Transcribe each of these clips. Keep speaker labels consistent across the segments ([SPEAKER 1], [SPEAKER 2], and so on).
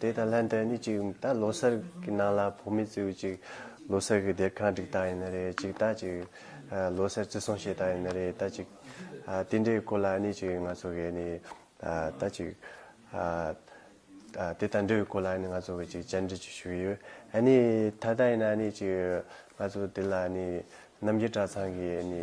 [SPEAKER 1] དེ་དང་ལྷན་དུ་ནི་ཅིག་ད་ལོ་སར་གྱི་ནང་ལ་བུ་མེད་ཚེའུ་ཅིག་ལོ་སར་གྱི་སྡེར་ཁང་བསྒྲིགས་ད་ཡིན་ན་རེད་ཅིག་ད་ཅིག་ལོ་སར་བརྩི་སྲུང་བྱེད་ད་ཡིན་ན་རེད་ད་ཅིག་དེ་འདྲའི་སྐོར་ལ་ནི་ཅིག་ང་ཚོ་གས་ནི་ད་ཅིག་དེ་དང་འབྲེལ་བའི་སྐོར་ལ་ནི་ང་ཚོ་གས་ཅིག་བཅར་འདྲི་ཅིག་ཞུ་གི་ཡོད་ནི་ད་ལྟ་ཡིན་ན་ནི་ཅིག་ང་ཚོ་དེ་ལ་ནི་རྣམ་རྒྱལ་གྲྭ་ཚང་གིས་ནི།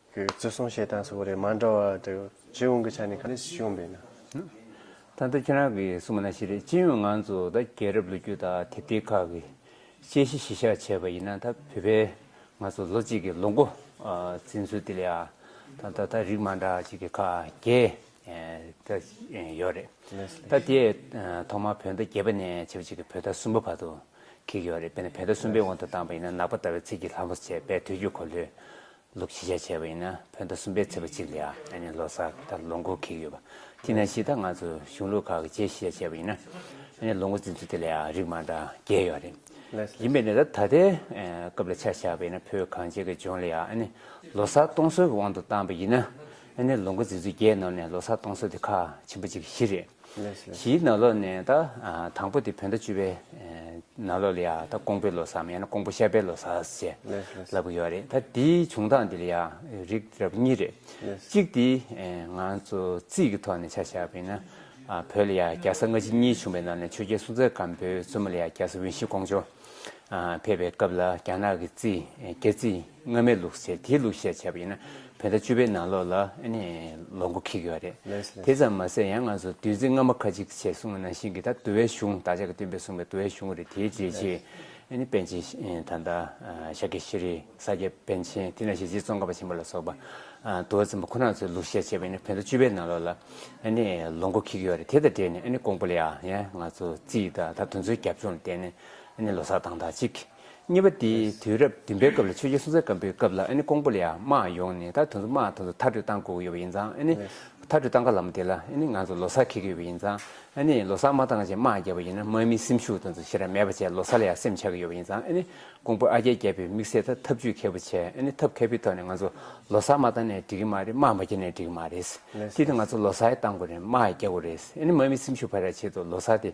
[SPEAKER 1] གི་བརྩི་སྲུང་བྱེད་སྟངས་སོགས་ཀྱི་རེད་མ་འདྲ་བ་དེ་སྤྱི་ཡོངས་ཀྱི་ཆ་ནས་ག་རེ་བྱུང་བས་
[SPEAKER 2] ན། ད་ལྟ་ཁྱེད་རང་གིས་གསུངས་པ་ན་ཤེས་རེད་སྤྱི་ཡོངས་ང་ཚོ་ད་རྒྱལ་རབས་ལོ་རྒྱུས་དག་དེབ་ཐེར་ཁག་གི་དཔྱད་གཞི་གཞི་བཞག་བྱས་པ་ཡིན་ན་ད་བོད་པའི་ང་ཚོ་ལོ་གཅིག་གི་ལོ་འགོ་འཛིན་ཚུལ་དེ་ལས་ད་ད་ད་རིགས་མ་འདྲ་ཅིག་གི་ཁག་བརྒྱད་ད་ཡོད་རེད། ད་དེ་ཐོག་མར་བོད་ཟླ་བརྒྱད་པ་ནས་ཆེ་བ་ཅིག་གི་བོད་ཟླ་གསུམ་པ་བར་དུ་ཁེགས་ཡོད་རེད་དཔེར་ན་བོད་ཟླ་གསུམ་པའི་དབང་དུ་བཏང་པ་ཡིན་ན་ནག་པ་ཟླ་བའི་ཚེས་ཀྱི་ལྷ་མོ་ཚེས་པའི་དུས་རྒྱུན་གོ་ལྷོད་ལོ་བཞི་ཆ་བྱས་པ་ཡིན་ན་བོད་ཟླ་གསུམ་པའི་ཚེས་པ་གཅིག་ལ་ཡང་ལོ་གསར་དང་ལོ་འགོ་ཁེལ་གྱི་ཡོད་པ་དེས་ན་ཕྱི་ཟླ་ལྔ་ཚོ་གཞུང་ལུགས་ཁག་གི་རྗེས་བཞི་ཆ་བྱས་པ་ཡིན་ན་ཡང་ལོ་འགོ་འཛིན་ཚུལ་དེ་ལ་ཡང་རིགས་མང་དག་འགལ་ཡོད་རེད། ཡིན་པས་ན་ད་ལྟའི་སྐབས་ལ་ཆ་བཞག་པ་ཡིན་ན་བོད་གངས་ཅན་གྱི་ལྗོངས་ལ་ཡང་ལོ་གསར་གཏོང་སྲོལ་གྱི་དབང་དུ་བཏང་པ་ཡིན་ན་ཡང་ལོ་འགོ་འཛིན་ཚུལ་བརྒྱད་རྣམས་ནས་ལོ་གསར་གཏོང་སྲོལ་དེ་ཁ་ཆེན་པོ་གཅིག་གི་གཞི་རེད། གཞིའི་ནང་ལོགས་ནས་ད་དང་པོ་དེ་བོད་ཟླ་བཅུ་པའི་ནང་ལོགས་ལ་ཡ་ད་ཀོང་པོའི་ལོ་སམ་ཡང་ན་ཀོང་པོ་ཤར་པའི་ལོ་སར་ཅེས་ལབ་གི་ཡོད་རེད་ད་དེའི་བྱུང་སྟངས་དེ་ལ་ཡ་རིགས་རབ་གཉིས་རེད་གཅིག་དེ་ང་ཚོ་རྩིས་ཀྱི་ཐོག་ནས་ཆ་བཞག་པ་ཡིན་ན་བོད་ལ་ཡ་རྒྱལ་ས་སྔ་ཕྱི་གཉིས་བྱུང་བའི་ནང་ནས་ཆོས་རྒྱལ་སྲོང་བཙན་སྒམ་པོའི་བཙུན་མོ་ལ་ཡ་རྒྱལ་ས་དབྱིན་ཞི་ཀོང་ཇོ་ཕེབས་པའི་སྐབས་ལ་རྒྱ་ནག་གི་རྩིས་རྒྱལ་རྩིས། སྔ་མའི་ལུགས་ཟེར་དེའི་ལུགས་བཤད་བྱས་པ་ཡིན་ན་བོད་ཟླ་བཅུ་པའི་ནང་ལོགས་ལ་ནས་ལོ་མགོ་འཁེལ་གི་ཡོད་རེད། དེ་ཙམ་མ་ཟད་ཡང་ང་ཚོ་བདུད་རྩི་རྔ་མ་ཁ་ཅིག་ཅེས་གསུང་བ་ནང་བཞིན་གྱི་ད་དུ་བའི་གཞུང་བདག་ཅག་གི་སྟོན་པས་གསུང་བའི་དུ་བའི་གཞུང་རེད་དེའི་རྗེས་ཆེ་ནི་པན་ཆེན་ད་ལྟ་ཤཱཀྱ་ཤྲཱི་རི་ས་སྐྱ་པན་ཆེན་དེ་ནང་བཞིན་རྗེ་ཙོང་ཁ་པ་ཆེན་པོ་ལ་སོགས་པ་དུ་བ་ཚོམ་པ་ཁོ་ན་ཚོའི་ལུགས་བཤད་བྱས་པ་ཡིན་ན་བོད་ཟླ་བཅུ་པའི་ནང་ལོགས་ལ་ནས་ལོ་མགོ་འཁེལ་གི་ཡོད་རེད་དེ་དང་འབྲེལ་ནས་ཀོང་པོ་ལི་ཡ་ཡང་ང་ཚོ་རྩིས་ད་ད་དུ་ཚོའི་རྒྱབ་ལྗོངས་ལ་བལྟས་ནས་ལོ་སར་དང་ད་ཅིག། གཉིས་པ་དེ་དུས་རབས་བདུན་པའི་སྐབས་ལ་ཆོས་རྒྱལ་སྲོང་བཙན་སྒམ་པོའི་སྐབས་ལ་ཀོང་པོ་ལ་ཡང་དམག་ཡོང་ནས་ད་དུང་དུ་དམག་ཐོག་ཏུ་མཐར་སྤྲོད་བཏང་དགོས་ཡོད་པ་ཡིན་ཙང་མཐར་སྤྲོད་བཏང་ག་ལ་མ་དེ་ལ་ང་ཚོ་ལོ་སར་ཁེལ་གི་ཡོད་པ་ཡིན་ཙང་ལོ་སར་མ་བཏང་རྗེས་དམག་བརྒྱབ་པ་ཡིན་ན་དམག་མིའི་སེམས་ཤུགས་དང་ཞེ་དྲག་མེད་པ་བྱས་ལོ་སར་ལ་ཡང་སེམས་ཆགས་ཀྱི་ཡོད་པ་ཡིན་ཙང་ཀོང་པོ་ཨ་རྒྱལ་བརྒྱབ་པའི་དམིགས་བསལ་ཐབས་ཇུས་མཁས་པོ་བྱས་ཐབས་མཁས་པོའི་ཐོག་ནས་ང་ཚོ་ལོ་སར་མ་བཏང་ནས་འགྲིག་གི་མ་རེད་དམག་མ་བརྒྱབ་ནས་འགྲིག་གི་མ་རེད་དེ་ལྟར་ང་ཚོ་ལོ་སར་བཏང་དགོས་རེད་དམག་བརྒྱབ་དགོས་རེད་དམག་མིའི་སེམས་ཤུགས་འཕར་བར་ཆེད་དུ་ལོ་སར་དེ་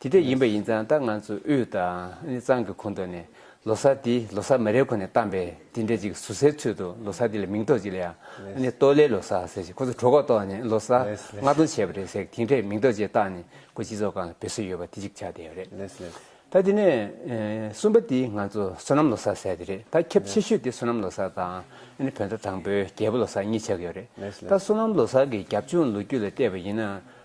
[SPEAKER 2] དེ་དེ་ཡིན་པ་ཡིན་ཙང་ད་ང་ཚོ་དབུས་དང་གཙང་གི་གོང་དུ་ནས་ལོ་སར་དེ་ལོ་སར་མ་རེད་ཁོ་ནས་གཏམ་པས་དེ་འདྲ་ཅིག་ཟུར་ཟའི་ཚུལ་དུ་ལོ་སར་དེ་ལ་མིང་ཐོག་ཅིག་ལ་ཡང་ཏོ་ལེ་ལོ་སར་ཟེར་ཞིང་ཁོ་ཚོ་གྲོད་ཁོག་ཏོག་ནས་ལོ་སར་ལྔ་སྟོང་བྱས་པ་རེད་ཟེར་གི་དེ་འདྲས་མིང་ཐོག་ཅིག་བཏགས་ནས་ཁོ་སྤྱི་ཚོགས་ཁང་ལ་འབོད་སྲོལ་ཡོད་པ་དེ་ཅིག་ཆགས་བསྡད་ཡོད་རེད། ད་དེ་ནས་གསུམ་པ་དེ་ང་ཚོ་བསོད་ནམས་ལོ་སར་ཟེར་དེ་རེད་ད་ཁྱབ་ཆེ་ཤོས་དེ་བསོད་ནམས་ལོ་སར་དང་བོད་ཟླ་དང་པོའི་རྒྱལ་པོ་ལོ་སར་གཉིས་ཆགས་ཡོད་རེད་ད་བསོད་ནམས་ལོ་སར་གི་རྒྱབ་ལྗོངས་ལོ་རྒྱུས་ལ་བལྟས་པ་ཡིན་ན།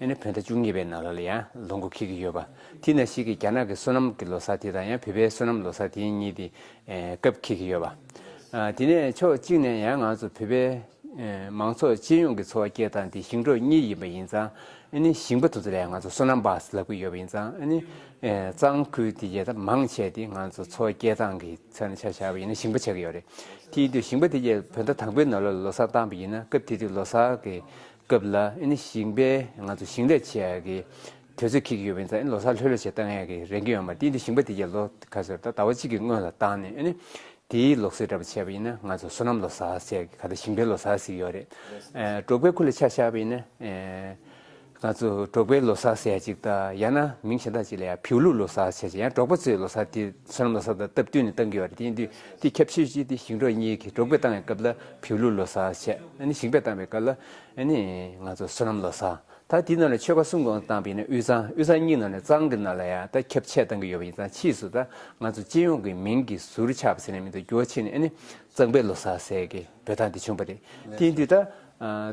[SPEAKER 2] ཨེ་ནི་བོད་ཟླ་བཅུ་གཉིས་པའི་ནང་ལ་ལ་ཡང་ལོ་མགོ་ཁེལ་གྱི་ཡོད་པ། དེ་ན་ཞིག་གི་རྒྱ་ནག་གི་བསོད་ནམས་ཀྱི་ལོ་སར་དེ་དང་ཡང་བོད་པའི་བསོད་ནམས་ལོ་སར་དེ་གཉིས་དེ་སྐབས་ཁེལ་གྱི་ཡོད་པ། དེ་ནས་ཕྱོགས་གཅིག་ནས་ཡང་ང་ཚོ་བོད་པའི་མང་ཚོགས་སྤྱི་ཡོངས་ཀྱི་འཚོ་བ་སྐྱེལ་སྟངས་དེ་ཞིང་འབྲོག་གཉིས་ཡིན་པ་ཡིན་ཙང་ཨེ་ནི་ཞིང་པ་དེ་ཚོ་ལ་ཡང་ང་ཚོ་བསོད་ནམས་བསབ་ལབ་ཀྱི་ཡོད་པ་ཡིན་ཙང་ཨེ་ནི་གཙང་ཁུལ་དེ་རྒྱལ་ཐབས་མང་བྱས་ཏེ་ང་ཚོ་འཚོ་བ་སྐྱེལ་སྟངས་ཀྱི་ཚད་ན་ཆ་བཞག་པ་ཡིན་ན་ཞིང་པ་ཆགས་ཀྱི་ཡོད་རེད། དེ་ཡིན་དུས་ཞིང་པ་དེ་རྒྱལ་བོད་ཟླ་དང་པོའི་ནང་ལ་ལོ་སར་བཏང་པ་ཡིན་ན་སྐབས་དེ་དུས་ལོ་སར་གྱི་སྐབས་ལ་ཨིནི་ཞིང་པས་ང་ཚོ་ཞིང་ལས་བྱེད་ཡག་གི་དུས་ཚོད་ཁེལ་གྱི་ཡོད་པ་ཡིན་ཙང་ཨིནི་ལོ་སར་ལྷོད་ལྷོད་བྱས་བཏང་ཡག་གི་རེད་གི་ཡོད་མ་ཏིའི་འདི་ཞིང་པ་དེ་གྱ་ལོ་ག་ཟེར་ད་ཟླ་བ་གཅིག་གི་སྔོན་ལ་བཏང་ནས་ཨིནི་དེའི་ལོག་སེར་འདྲ་པོ་བྱས་པ་ཡིན་ན་ང་ཚོ་སོ་ནམ་ལོ་སར་བྱས་གི་ག་ད་ཞིང་པའི་ལོ་སར་ཟིག་ཡོད་རེད་འབྲོག་པའི་ཁུ་ལ་ཆ་བཞག་པ་ཡིན་ན་ང་ཚོ་འབྲོག་པའི་ལོ་སར་ཟེར་ཡག་ཅིག་ད་ཡང་ན་མིང་གཞན་དག་ཅིག་ལ་ཡང་བིའུ་ལུག་ལོ་སར་བྱས་ཅིག་ཡང་འབྲོག་པ་ཚོའི་ལོ་སར་དེ་སོ་ནམ་ལོ་སར་དང་སྟབས་བསྟུན་ནས་བཏང་གི་ཡོད་རེད་ཏིའི་འདི་འདི་ཁྱབ་ཤོས་ཅིག་དེ་ཞིང་འབྲོག་གཉིས་གི་འབྲོག་པའི་བཏང་ཡག་སྐབས་ལ། བོད་ལུགས་ལོ་སར་ཆེད་ཞིང་པས་བཏང་བའི་སྐབས་ལ་ང་ཚོ་བསོད་ནམས་ལོ་སར་ད་དེའི་ནང་ལ་ཆོལ་ཁ་གསུམ་གང་བཏང་བས་ན་དབུས་གཙང་དབུས་གཙང་གཉིས་ནང་ལ་གཙང་གི་ནང་ལ་ཡང་ད་ཁྱབ་ཆེད་བཏང་གི་ཡོད་པ་ཡིན་ཙང་ཕྱིས་སུ་ད་ང་ཚོ་སྤྱི་ཡོངས་ཀྱི་མིང་གི་ཟུར་ཆག་པ་ཟེར་ནས་མི་འདུག་རྒྱུ་བ་ཕྱི་ནས་གཙང་པའི་ལོ་སར་ཟེར་གི་འབོད་སྟངས་དེ་བྱུང་པ་རེད་དེ་དུས་ད་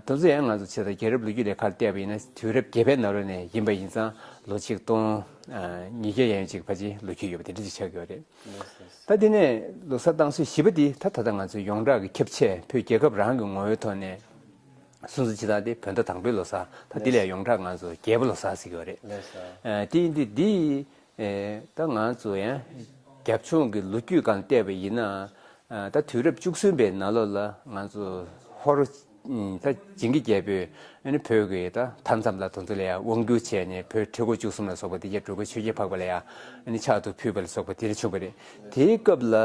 [SPEAKER 2] དུང་ཚོ་ཡང་ང་ཚོ་ཕྱི་ད་རྒྱལ་རབས་ལོ་རྒྱུས་ལས་ཁར་བལྟས་པ་ཡིན་ན་དུས་རབས་བརྒྱད་པའི་ནང་ལོ་ནས་ཡིན་པ་ཡིན་ཙང་ལོ་ཆིག་སྟོང་ཉིས་བརྒྱ་ཡན་ཅིག་བར་གྱི་ལོ་རྒྱུས་ཡོད་པ་དེ་འདྲ་ཅིག་ཆགས་ཡོད་རེད། ད་དེ་ནས་ལོ་གསར་བཏང་སྲོལ་བཞི་པ་འདི་ད་ད་ལྟ་ང་ཚོའི་ཡོངས་གྲགས་ཀྱི་ཁྱབ་ཆས་བོད་རྒྱལ་ཁབ་རང་གི་ངོ་བོའི་ཐོག་ནས་སུན་སུན་འབྱིན་སྟངས་དེ་བོད་ཟླ་དང་པོའི་ལོ་གསར་ད་དེ་ལས་ཡོངས་གྲགས་ང་ཚོ་རྒྱལ་པོ་ལོ་གསར་ཟེར་གྱི་བ་རེད། དེ་ཡིན་དུས་འདི་ད་ང་ཚོ་རྒྱབ་ལྗོངས་ཀྱི་ལོ་རྒྱུས་སྒང་བལྟས་པ་ཡིན་ན་ད་དུས་རབས་བཅུ་གསུམ་པའི་ན་ལོ་ལ་ང་ཚོ་ཧོར་ད་བྱིངས་ཀྱི་རྒྱལ་པོས་བོད་ཀྱི་ད་མཐའ་མཚམས་ལ་དོ་ཚོ་ལ་ཡང་དབང་བསྒྱུར་བྱས་ནས་བོད་ཁྲི་སྒོ་བཅུ་གསུམ་ལ་སོགས་པ་འདི་རྒྱལ་སྤྲུལ་པ་ཆོས་རྒྱལ་འཕགས་པ་ལ་ཡང་ཕྱག་ཏུ་ཕུལ་བ་ལ་སོགས་པ་དེ་རིང་བྱུང་བ་རེད། དེའི་སྐབས་ལ་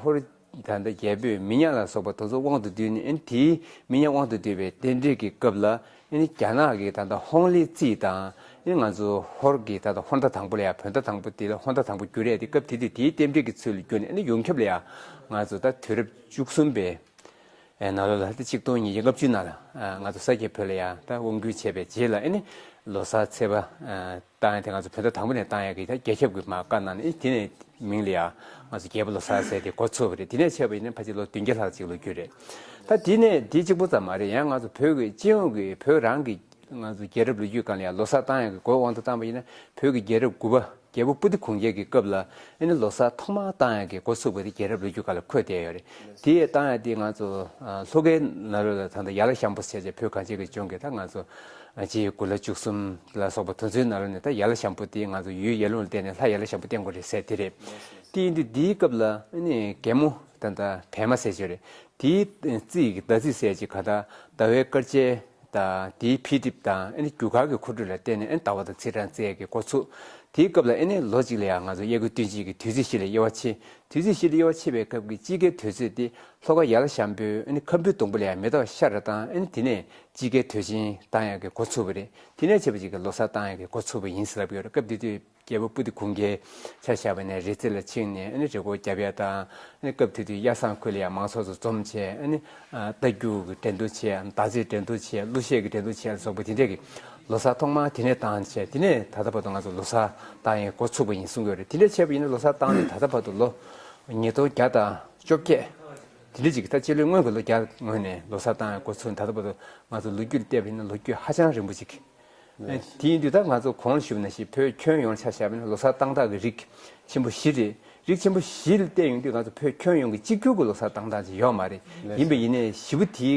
[SPEAKER 2] ཧོར་ད་ལྟ་རྒྱལ་པོས་མི་ཉག་ལ་སོགས་པ་དོ་ཚོ་དབང་དུ་བསྡུས་ནས་དེའི་མི་ཉག་དབང་དུ་བསྡུས་པའི་རྟེན་འབྲེལ་གྱི་སྐབས་ལ་རྒྱ་ནག་གི་ད་ལྟ་ཧོང་ལི་ཙི་དང་ང་ཚོ་ཧོར་གྱི་ད་ལྟ་ཧོར་ཟླ་དང་པོ་ལ་ཡང་བོད་ཟླ་དང་པོ་དེ་ལ་ཧོར་ཟླ་དང་པོ་བསྒྱུར་རེད་དེ་སྐབས་དེ་དུས་དེའི་རྟེན་འབྲེལ་གྱི་ཚུལ་ལ་བསྒྱུར་ནས་ཡོངས་ཁྱབ་ལ་ཡང་ང་ཚོ་ད་དུས་རབས་བཅུ་གསུམ་པའི་ཨེ་ན་ལོ་ལ་ཏི་གཅིག་སྟོང་ཉིས་བརྒྱ་ལྔ་བཅུའི་ནང་ལ་ང་ཚོ་ས་སྐྱའི་བོད་ལ་ཡང་ད་དབང་བསྒྱུར་བྱས་པའི་རྗེས་ལ་ཨེ་ནི་ལོ་སར་ཚེས་པ་བཏང་ཡང་དེ་ང་ཚོ་བོད་ཟླ་དང་པོ་ནས་བཏང་ཡང་གི་ད་རྒྱལ་ཁྱབ་ཀྱི་མ་བཀའ་གནང་ནས་དེ་ནས་མིང་ལ་ཡང་ང་ཚོ་རྒྱལ་པོ་ལོ་སར་ཟེར་ཏེ་འགོ་ཚུགས་པ་རེད་དེ་ནས་ཆད་པ་ཡིན་ན་ཕ་ཅིག་ལོ་བདུན་བརྒྱ་ལྷག་ཅིག་ལོ་རྒྱུས་རེད། ད་དེ་ནས་དེ་གཅིག་པོ་ཙམ་མ་རེད་ཡང་ང་ཚོ་བོད་ཀྱི་སྤྱི་ཡོངས་ཀྱི་བོད་རང་གི་ང་ཚོ་རྒྱལ་རབས་ལོ་རྒྱུས་སྐར་ལ་ཡང་ལོ་སར་བཏང་ཡང་གི་འགོའི་དབང་དུ་བཏང་པ་ཡིན་ན་བོད་ཀྱི་རྒྱལ་རབས་དགུ་པ། རྒྱལ་པོ་པུ་ཏི་གུང་རྒྱལ་གྱི་སྐབས་ལ་ཨེ་ནི་ལོ་སར་ཐོག་མར་ཏང་ཡག་གི་འགོ་ཚུགས་པ་དེ་རྒྱལ་རབས་ལོ་རྒྱུས་ཁག་ལ་འཁོད་བསྡད་ཡོད་རེད་དེ། ཏང་ཡག་འདིས་ང་ཚོ་ལྷོ་ཁའི་ནགས་རུ་ལ་ད་ལྟ་ཡར་ལ་ཤམ་པོ་བྱས་བྱས་བོད་གངས་ཅན་གྱི་ལྗོངས་ཀྱི་ད་ང་ཚོ་རྗེ་ཡི་དགུ་ལ་བཅུ་གསུམ་ལ་སོགས་པ་དུ་མཚོའི་ནགས་རུ་ནས་ད་ཡར་ལ་ཤམ་པོ་དེ་ང་ཚོ་ཡུལ་ཡར་ཀླུང་ལ་བརྟེན་ནས་ལྷ་ཡར་ལ་ཤམ་པོ་བརྟེན་དགོས་རེད་ཟེར་དེ་རེད་དེ་ཡིན་དུས་འདིའི་སྐབས་ལ་ཨེ་ནི་རྒན་མོ་ད་ད་བལ་མ་ཟེར་བྱས་རེད་དེའི་རྩིས་ཀྱི་ཟླ་རྩིས་ཟེར་ཅིག་ག་ད་ཟླ་བའི་སྐར་ཆའི་དང། དེའི་འཕེལ་འགྲིབ་དང་ཨེ་ནི་རྒྱུ་གར་གྱི་འཁོར་རྒྱུག་ལ་བརྟེན་ནས་ཨེ་ནི་དང་བ་དང་ཚིག་དང་རྩལ་གྱི་འགོ་ཚུགས། དེའི་སྐབས་ལ་ཨེ་ནི་ལོ་གཅིག་ལ་ཡང་ང་ཚོ་དབྱར་དགུན་སྟོན་དཔྱིད་ཀྱི་དུས་ཚིགས་བཞི་ལ་དབྱེ་བ་ཕྱེ། དུས་ཚིགས་བཞི་ལ་དབྱེ་བ་ཕྱེ་བའི་སྐབས་ཀྱི་དཔྱིད་ཀའི་དུས་ཚོད་དེ་ལྷོ་ཁ་ཡར་ལ་ཤམ་པོའི་ཨེ་ནི་ཁམ་བུའི་སྡོང་པོ་ལ་ཡང་མེ་ཏོག་ཤར་ར་དང་ཨེ་ནི་དེ་ནས་དཔྱིད་ཀའི་དུས་ཆེན་དང་ཡང་གི་འགོ་ཚུགས་པ་རེད། དེ་ནས་བྱེད་པ་གཅིག་གི་ལོ་སར་དང་ཡང་གི་འགོ་ཚུགས་པ་ཡིན་ཟེར་ལབ་ཡོད་རེད་སྐབས་དེ་དུས། རྒྱལ་པོ་པུ་ཏི་གུང་གིས་ཆ་བཞག་པ་ནས་རི་རྩེ་ལ་ཕྱིན་ནས་རི་སྐོར་བརྒྱབ་ཡ་དང། སྐབས་དེ་དུས་གཡའ་སངས་ཁུལ་ལ་ཡང་མང་ཚོགས་ཚོ་འཛོམས་ཆེད། རྟ་རྒྱུག་གི་འགྲན་བསྡུར་ཆེད་དམ་སྟག་རྩེད་འགྲན་བསྡུར་ཆེད་གླུ་གཞས་ཀྱི་འགྲན་བསྡུར་ཆེད་སོགས་པ་དེ་འདྲས་ཀྱི་ལོ་སར་ཐོག་མར་དེ་ནས་བཏང་ཆེད་དེ་ནས་ད་ལྟ་བར་དུ་ང་ཚོ་ལོ་སར་བཏང་ཡས་འགོ་ཚུགས་པ་ཡིན་གསུང་གི་རེད་དེ་འདྲས་བྱས་པ་ཡིན་ན་ལོ་སར་བཏང་ནས་ད་ལྟ་བར་དུ་ལོ་ཉིས་སྟོང་བརྒྱ་དང་བཅོ་བརྒྱད་དེ་འདྲས་ཅིག་གི་ད་སྤྱི་ལོའི་སྔོན་གྱི་ལོ་བརྒྱ་སྔོན་ནས་ལོ་སར་བཏང་ཡས་འགོ་ཚུགས་ནས་ད་ལྟ་བར་དུ་ང་ཚོ་ལོ་རྒྱུས་ལ་བལྟས་པ་ཡིན་ན་ལོ་རྒྱུས་ཧ་ཅང་རིང་པོ་ཅིག་དེའི་འདུས་ཐག་ང་ཚོ་གོང་ལ་ཞུགས་ན་ཞིག་བོད་ཁྱོན་ཡོངས་ལ་ཆ་བཞག་པ་ནི་ལོ་སར་བཏང་སྟངས་ཀྱི་རིགས་ཆེན་པོ་བཞི་རེད། རིགས་ཆེན་པོ་བཞི་ལ་བལྟས་ཡོང་དུས་ང་ཚོ་བོད་ཁྱོན་ཡོངས་ཀྱི་གཅིག་གྱུར་གྱི་ལོ་སར་བཏང་སྟངས་ཅིག་ཡོད་མ་རེད། ཡིན་པས་ཡིན་ནས་བཞི་པོ་དེ་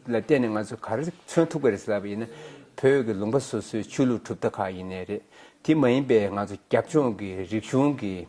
[SPEAKER 2] ལ་བལྟས་ནས་ང་ཚོས་ག་རེ་མཚོན་ཐུག་པ་རེད་ཟེར་བ་ཡིན་ན། བོད་ཀྱི་ལུང་པ་སོ་སོའི་ཆོས་ལུགས་གྲུབ་མཐའ་ཁག་ཡིན་ནས་རེད། དེ་མ་ཡིན་པའི་ང་ཚོ་རྒྱབ་ལྗོངས་ཀྱི་རིག་གཞུང་གི།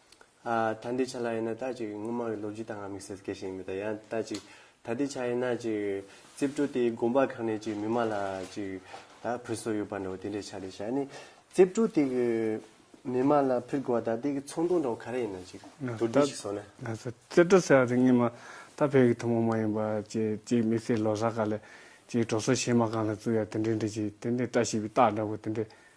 [SPEAKER 1] ད་ལྟའི་ཆ་ལ་ཡིན་ན་ད་ཅིག་སྔོན་མ་གི་ལོ་རྒྱུས་ལྟར་ང་དམིགས་བསལ་སྐད་ཤེས་ཀྱི་མེད་ད་ཡང་ད་ཅིག་ད་ལྟའི་ཆ་ཡིན་ན་ཅིག་རྩིབས་སྤྲུལ་དེའི་དགོན་པ་ཁག་ནས་ཅིག་མི་མང་ལ་ཅིག་ད་ཕུལ་སྲོལ་ཡོད་པ་འདྲ་བོ་དེ་འདྲའི་ཆ་རེད་ཤག་ནི་རྩིབས་སྤྲུལ་དེ་གི་མི་མང་ལ་ཕུལ་དགོས་བ་ད་ལྟའི་གི་ཚོང་དོན་འདྲ་བོ་ག་རེ་ཡིན་ན་ཅིག་དུར་སྒྲིལ་ཞིག་བཟོ་ན། ང་ཚོ་རྩིབས་
[SPEAKER 3] སྤྲུལ་ཟེར་བ་དེ་སྔོན་མ་ད་བོད་ཀྱི་ཐུན་མོང་མ་ཡིན་པ་ཅིག་ཅིག་དམིགས་བསལ་ལོ་སར་ག་ལ་ཅིག་གྲོ་སོ་གཞས་མ་གང་ལ་བཙུགས་ཡ་དེ་འདྲའི་འདྲ་ཅིག་དེ་འདྲའི་བཀྲ་ཤིས་པའི་རྟགས་འདྲ་བོ་དེ་འདྲའི་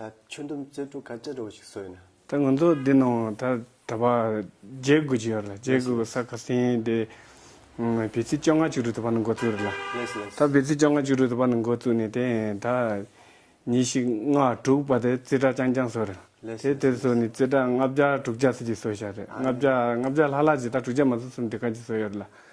[SPEAKER 1] ད་ཁྱོད་འདུམ་བརྩོན་འགྲུས་ག་འདྲ་རོགས་ཤིག་བཟོས་ན། ད་ང་ཚོ་འདི་ནང་
[SPEAKER 3] ད་ད་བར་བརྒྱད་དགུ་ཅིག་ཡོད་རེད་བརྒྱད་དགུ་གི་ས་ཁ་སེང་དེ་བེ་ཚི་བཅོ་ལྔ་བཅུ་དྲུག་དེ་བར་ནས་འགོ་བཙུགས་རེད་ལ། ད་བེ་ཚི་བཅོ་ལྔ་བཅུ་དྲུག་དེ་བར་ནས་འགོ་བཙུགས་ནས་དེ་ད་ཉིན་ཞིག་ལྔ་དྲུག་བར་དེ་ཙི་ཏྲ་རྐྱང་རྐྱང་བཟོས་རེད་ལ། དེ་དེ་བཟོས་ནས་ཙི་ཏྲ་ལྔ་བརྒྱ་དྲུག་བརྒྱ་ཟིག་ཅིག་བཟོས་ཤག་རེད་ལྔ་བརྒྱ་ལྔ་བརྒྱ་ལྷག་ལྷག་ཅིག་ད་དྲུག་བརྒྱ་མ་བཟོས་གསུམ་དེ་ག་ཅིག་བཟོས་ཡོད་རེད་ལ།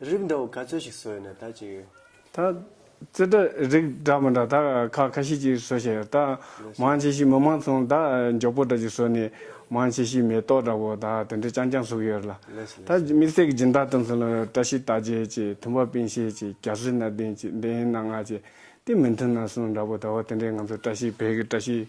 [SPEAKER 1] རིགས་འདྲ་བོ་ག་ཚོད་ཞིག་བཟོས་ནས་ད་ཅིག་ཡོད། ད། རྩེ་
[SPEAKER 3] གྲ་རིགས་འདྲ་མོ་འདྲ་ད་ཁ་ཁ་ཤས་ཅིག་བཟོ་བཞིན་ཡོད། ད། མང་ཆེ་ཤོས་མི་མང་ཚོང་ད་མགྱོགས་པོ་འདྲ་ཅིག་བཟོས་ནས། མང་ཆེ་ཤོས་མེ་ཏོག་འདྲ་བོ་ད་དེ་འདྲས་རྐྱང་རྐྱང་བཟོ་གི་ཡོད་རེད་ལ། ད། དམིགས་བསལ་གྱི་སྦྱིན་བདག་དོན་ཚན་ལ་བཀྲ་ཤིས་རྟགས་བརྒྱད་ཅིག་མཐུན་པ་པིང་ཤེལ་ཅིག་རྒྱ་བཟོའི་སྣ་གདེངས་ཅིག་འདེའི་སྣ་ལྔ་ཅིག་དེ་མི་མཐུན་སྣ་གསུམ་འདྲ་བོ་ད་བ་དེ་འདྲས་ང་ཚོ་བཀྲ་ཤིས་བེ་གི་བཀྲ་ཤིས་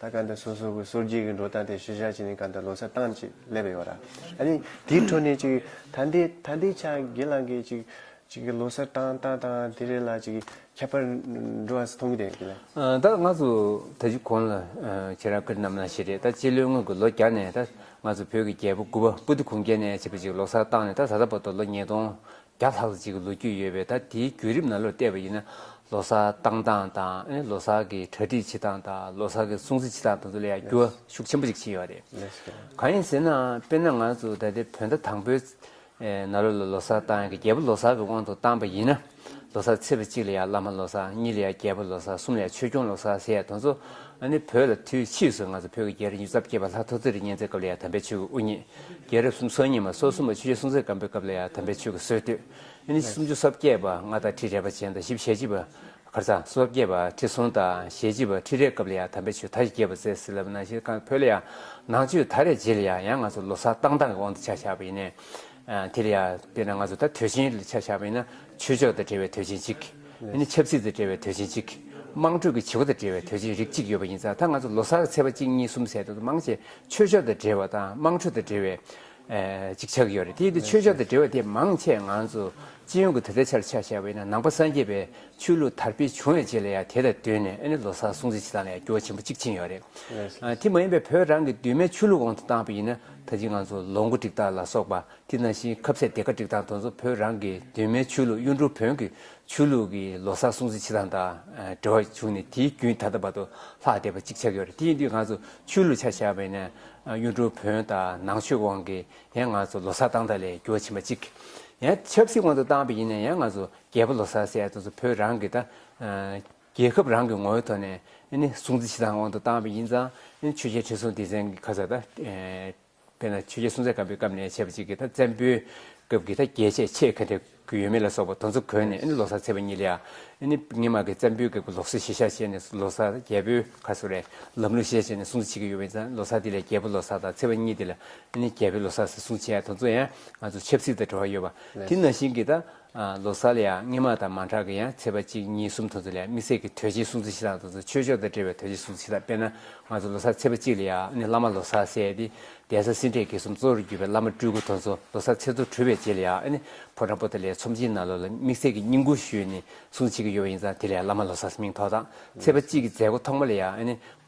[SPEAKER 1] ད་གང་དུ་སོ་སོ་གི་སོར་རྒྱུས་ཀྱི་འགྲོ་སྟངས་དེ་ཞུ་བཞག་བྱས་ནས་གང་དུ་ལོ་སར་བཏང་ཅིག་སླེབས་ཡོད་ར། ཨ་ནི་དེའི་འཕྲོ་ནས་ཅིག་ད་འདི་ད་འདི་ཆ་དགེ་ལང་གིས་ཅིག་ཅིག་གི་ལོ་སར་བཏང་བཏང་བཏང་དེ་རེས་ལ་ཅིག་ཁྱད་པར་འགྲོ་བ་སུ་མཐོང་གི་དེ་ཡིན་ལ། ད་ང་ཚོ་
[SPEAKER 2] ད་གཞི་གོང་ལ་ཁྱེད་རང་ཀིར་རྣམ་ལ་ཞེས་རེད་ད་སྤྱི་ལོའི་སྔོན་གྱི་ལོ་བརྒྱ་ནས་ད་ང་ཚོ་བོད་ཀྱི་རྒྱལ་པོ་དགུ་བ་པུ་ཏི་གུང་རྒྱལ་ནས་བྱས་པ་ཅིག་ལོ་སར་བཏང་ནས་ད་ད་ལྟ་བར་དུ་ལོ་ཉིས་སྟོང་བརྒྱ་ལྷག་ཙམ་ཞིག་གི་ལོ་རྒྱུས་ཡོད་པས་ད་དེའི་བརྒྱུད་རིམ་ནང་ལོས་བལྟས་པ་ཡིན་ན་ལོ་སར་བཏང་སྟངས་དང་ལོ་སར་གྱི་གྲ་སྒྲིག་བྱེད་སྟངས་དང་ལོ་སར་གྱི་སྲུང་བརྩི་བྱེད་སྟངས་དང་དུ་ལ་ཡང་འགྱུར་བ་ཤུགས་ཆེན་པོ་ཞིག་ཕྱིན་ཡོད་པ་རེད། གང་ཡིན་ཟེར་ན་དཔེར་ན་ང་ཚོ་ད་ལྟའི་བོད་ཟླ་དང་པོའིནང་ལོ་ལ་ལོ་སར་བཏང་ཡང་རྒྱལ་པོ་ལོ་སར་གྱི་དབང་དུ་བཏང་པ་ཡིན་ན་ལོ་སར་ཚེས་པ་གཅིག་ལ་ཡང་བླ་མ་ལོ་སར་གཉིས་ལ་ཡང་རྒྱལ་པོ་ལོ་སར་གསུམ་ལ་ཡང་ཆོས་སྐྱོང་ལོ་སར་ཟེར་ཡང་དོན་གཙོ་ནི་བོད་ལ་དུས་ཕྱིས་སུ་ང་ཚོ་བོད་ཀྱི་རྒྱལ་རིགས་མྱུར་ཚབས་སྐྱེས་པ་ལྷ་ཐོ་ཙེ་རི་གཉན་ཚའི་སྐབས་ལ་ཡང་དམ་པའི་ཆོས་ཀྱི་དབུ་བརྙེས། རྒྱལ་རབས་སུམ་སོ་གཉིས་མ་སོ་གསུམ་པ་ཆོས་རྗེ་སྲོང་བཙན་སྒམ་པོའི་སྐབས་ལ་ཡང་དམ་པའི་ཆོས་ཀྱི་སྲོལ་བཏོད། ཨ་ནི་སུམ་ཅུ་སོ་བརྒྱད་པ་ལྔ་དང་ཁྲི་རེ་བ་ཅན་དང་བཞི་བཞི་བཅུ་པ་ཁར་ཚང་སོ་བརྒྱད་པ་ཁྲི་སྲོང་དང་ཞེ་བཞི་བ་ཁྲི་རེའི་སྐབས་ལ་ཡང་དམ་པའི་ཆོས་མཐའ་བཞི་རྒྱས་པར་བསྩལ་ཟིན་ལབ་ན་གཞིར་བཀང་བོད་ལ་ཡང་ནང་ཆོས་ད་རེས་རྗེས་ལ་ཡང་ཡང་ང་ཚོ་ལོ་སར་བཏང་བཏང་གི་དབང་དུ་ཆ་བཞག་པ་ཡིན། དེ་ལ་ཡང་དཔེར་ན་ང་ཚོ་ད་དུས་ཆེན་ལ་ཆ་བཞག་པ་ཡིན་ན་ཆོས་ཕྱོགས་དང་འབྲེལ་བའི་དུས་ཆེན་གཅིག། ཆབ་སྲིད་དང་འབྲེལ་བའི་དུས་ཆེན་གཅིག། དམངས་ཁྲོད་ཀྱི་བྱེད་སྒོ་དང་འབྲེལ་བའི་དུས་ཆེན་རིགས་གཅིག་ཡོད་པ་ཡིན་ཙང་ད་ང་ཚོ་ལོ་སར་གྱི་ཚེས་པ་གཅིག་གཉིས་གསུམ་ཟེར་དུས་དུ་མང་ཆེ་ཆོས་ཕྱོགས་དང་འབྲེལ་བ་དང་དམངས་ཁྲོད་དང་འབྲེལ་བའི། གཅིག་ཆགས་ཀྱི་ཡོད་རེད་དེ་ཡིན་དུས་ཆོས་ཕྱོགས་དང་འབྲེལ་བ་དེ་མང་ཆེ་ང་ཚོ་སྤྱི་ཡོངས་ཀྱི་ད་ལྟའི་ཆར་ཆ་བཞག་པ་ཡིན་ན་ནང་པ་སངས་རྒྱས་པའི་ཆོས་ལུགས་དར་སྤེལ་བྱུང་བའི་རྗེས་ལ་ཡང་དེ་དང་བསྟུན་ནས་ཨ་ནི་ལོ་སར་སྲུང་བརྩི་བྱེད་སྟངས་ལ་ཡང་འགྱུར་བ་ཆེན་པོ་གཅིག་ཕྱིན་ཡོད་རེད། དེ་མ་ཡིན་པའི་བོད་རང་གི་གདོད་མའི་ཆོས་ལུགས་འོག་ཏུ་བཏང་བ་ཡིན་ན་ད་ཅི་ང་ཚོ་ལོ་འགོ་འགྲིག་སྟངས་ལ་སོགས་པ་དེ་ནང་བཞིན་ཁབ་ཚད་དེ་ག་སྒྲིག་དང་དོན་གཙོ་བོད་རང་གི་གདོད་མའི་ཆོས་ལུགས་གཡུ་འབྲུག་བོན་གྱི་ཆོས་ལུགས་ཀྱི་ལོ་སར་སྲུང་བརྩི་བྱེད་སྟངས་དང་འབྲེལ་བ་བྱུང་ནས་དེའི་རྒྱུན་ད་ལྟ་བར་དུ་ལྷག་བསྡད་པ་གཅིག་ཆགས་ཡོད་རེད་དེ་ཡིན་དུས་ང་ཚོ་ཆོས་ལུགས་ཆ་བཞག་པས་ན་གཡུ་འབྲུག་བོན་དང་ནང་ཆོས་དབང་གིས་ཡང་ང་ཚོ་ལོ་སར་སྟངས་དག་ལས་འགྱུར་བ་ཕྱིན་པ་གཅིག་ཡང་ཆབ་སྲིད་དབང་དུ་བཏང་པས་ཡིན་ན་ཡང་ང་ཚོ་རྒྱལ་པོ་ལོ་སར་ཟེར་དོན་གཙོ་བོད་རང་གི་དང་རྒྱལ་ཁབ་རང་གི་ངོ་བོའི་ཐོག་ནས་སྲུང་བརྩི་བྱེད་སྟངས་དབང་དུ་བཏང་པས་ཡིན་ཙང་ཆོས་རྒྱལ་ཁྲི་སྲོང་ལྡེ་བཙན་གྱི་ཁ་ཚ་དང། དཔེར་ན་ཆོས་རྒྱལ་སྲོང་བཙན་སྒམ་པོའི་སྐབས་ནས་བྱས་པ་ཅིག་གིས་ད་བཙན་པོའི་སྐབས་ཀྱི་ད་རྒྱལ་ཆས་ཆེས་ག་འདྲ་གི་ཡོད་མེད་ལ་སོགས་པ་དོན་ཚོ་གོན་ནས་ལོ་སར་ཚེས་པ་གཉིས་ལ་ཡང་རྙིང་མ་གི་བཙན་པོའི་སྐབས་ཀྱི་ལོ་སར་གཞི་བཞག་བྱས་ནས་ལོ་སར་རྒྱལ་པོའི་ཁར་སོགས་རེད་ལམ་ལུགས་གཞི་བཞག་བྱས་ནས་སྲུང་བརྩི་བྱེད་ཀྱི་ཡོད་པ་ཡིན་ཙང་ལོ་སར་དེ་ལས་རྒྱལ་པོ་ལོ་སར་དང་ཚེས་པ་གཉིས་དེ་ལ་རྒྱལ་པོའི་ལོ་སར་ཟེར་སྲུང་བྱས་དོན་ཚོ་ཡང་ང་ཚོ་ཆབ་སྲིད་དང་འབྲེལ་བ་ཡོད་པ་དེ་ནང་བཞིན་གྱི་ད། ལོ་གསར་ལ་ཡང་སྔས་མ་དང་མ་འཁྲག་གི་ཡང་ཚེས་པ་གཅིག་གཉིས་གསུམ་དུ་ཚོ་ལས་དམིགས་བསལ་གྱི་དོལ་རྗེའི་སྲུང་བརྩི་ཞེ་སྡང་དུ་ཚོ་ཆོས་ཕྱོགས་དང་འབྲེལ་བའི་དོལ་རྗེའི་སྲུང་བརྩི་ཞེ་སྡང་དཔེར་ན་ང་ཚོ་ལོ་གསར་ཚེས་པ་གཅིག་ལ་ཡང་ནི་བླ་མ་ལོ་སར་སད་དེ་གདན་ས་སེང་འབྲས་དགེ་གསུམ་གཙོ་བོར་གྱུར་པའི་བླ་མ་སྤྲུལ་སྐུ་དོན་གཙོ་ལོ་སར་ཚེས་དུར་གྲོལ་བའི་རྗེས་ལ་ཡང་ནི་ཕོ་བྲང་པོ་ཏི་ལའི་ཚོམས་ཆེན་ནང་ལོ་ལ་དམིགས་བསལ་གྱི་བསྙེན་བཀུར་ཞུས་ནས་སྲུང་བྱེད་ཀྱི་ཡོ་བ་ཡིན་ཙང་དེ་ལས་བླ་མ་ལོ་སར་མིང་ཐོགས་དང་ཚེས་པ་གཅིག་གི་མཛད་སྒོ་ཐོག་མ་ལ་ཡང་ནི་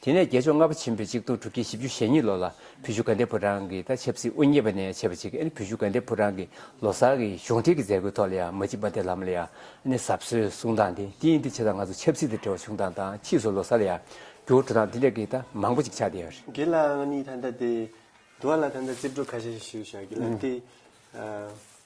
[SPEAKER 2] དེ་ནས་རྒྱལ་མཆོག་ལྔ་པ་ཆེན་པོའི་གཅིག་སྟོང་དྲུག་བརྒྱ་བཞི་བཅུ་ཞེ་གཉིས་ལོ་ལ་བུ་བཞུགས་དགའ་ལྡན་ཕོ་བྲང་གི་དང་ཆབ་སྲིད་དབུ་བརྙེས་པ་ནས་བྱས་པ་ཅིག་བུ་བཞུགས་དགའ་ལྡན་ཕོ་བྲང་གི་ལོ་གསར་གྱི་གཞུང་འབྲེལ་གྱི་མཛད་སྒོའི་ཐོག་ལ་ཡང་མ་ཅིག་པ་དེ་ལམ་ལ་ཡང་ཟབ་གསོལ་གསུང་སྟངས་དེ་དེ་ཡིན་ཏེ་ཕྱི་དང་ང་ཚོ་ཆབ་སྲིད་དང་འབྲེལ་བ་བྱུང་སྟངས་དང་ཕྱིས་སུ་ལོ་གསར་ལ་ཡང་འགྱུར་བ་འགྲོ་སྟངས་དེ་འདྲ་གི་དང་མང་པོ་ཅིག་ཆགས་བསྡད་ཡོད་རེད། དེ་ལའང་གཉིས་ད་
[SPEAKER 1] ལྟ་དེ་འགྲོ་བ་ལ་ད་ལྟ་རྩིས་སྤྲོད་ཁ་ཤས་ཤིག་ཞུ་བྱ་རྒྱུ་ལ་དེ།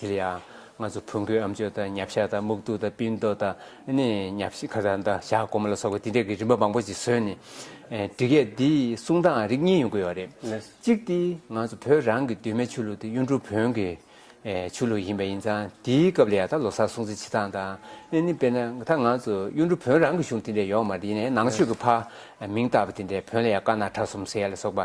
[SPEAKER 2] དེར་ཡང་ང་ཚོ་བོན་སྒོས་ཨམ་ཆོས་དང་ཉབ་ཤ་དང་སྨུག་རྡུགས་དང་སྤིན་རྡོ་དང་ཉབ་ཤ་ཁ་དང་ཞྭ་སྒོ་མོ་ལ་སོགས་པ་འདི་འདྲ་གི་རིམ་པ་མང་པོ་ཞིག་བཟོས་ནས་འབྲི་སྐད་འདིའི་གསུང་སྟངས་རིགས་གཉིས་ཡོང་གི་ཡོད་རེད། གཅིག་དེ་ང་ཚོ་བོད་རང་གི་གདོད་མའི་ཆོས་ལུགས་དེ་གཡུང་དྲུང་བོན་གྱི་ཆོས་ལུགས་ཡིན་པ་ཡིན་ཙང་དེའི་སྐབས་ལ་ཡང་ད་ལོ་སར་སྲུང་བརྩི་བྱེད་སྟངས་དང། དཔེར་ན་ད་ང་ཚོ་གཡུང་དྲུང་བོན་རང་གི་གཞུང་དེ་འདྲ་ཡོག་མ་རེད་ཡིན་ནའི་ནང་ཆོས་ཀྱི་ཕ་མིང་བཏགས་པ་དེ་འདྲས་བོན་ལ་ཡང་དཀར་ནག་ཁྲ་གསུམ་སེར་ལ་སོགས་པ།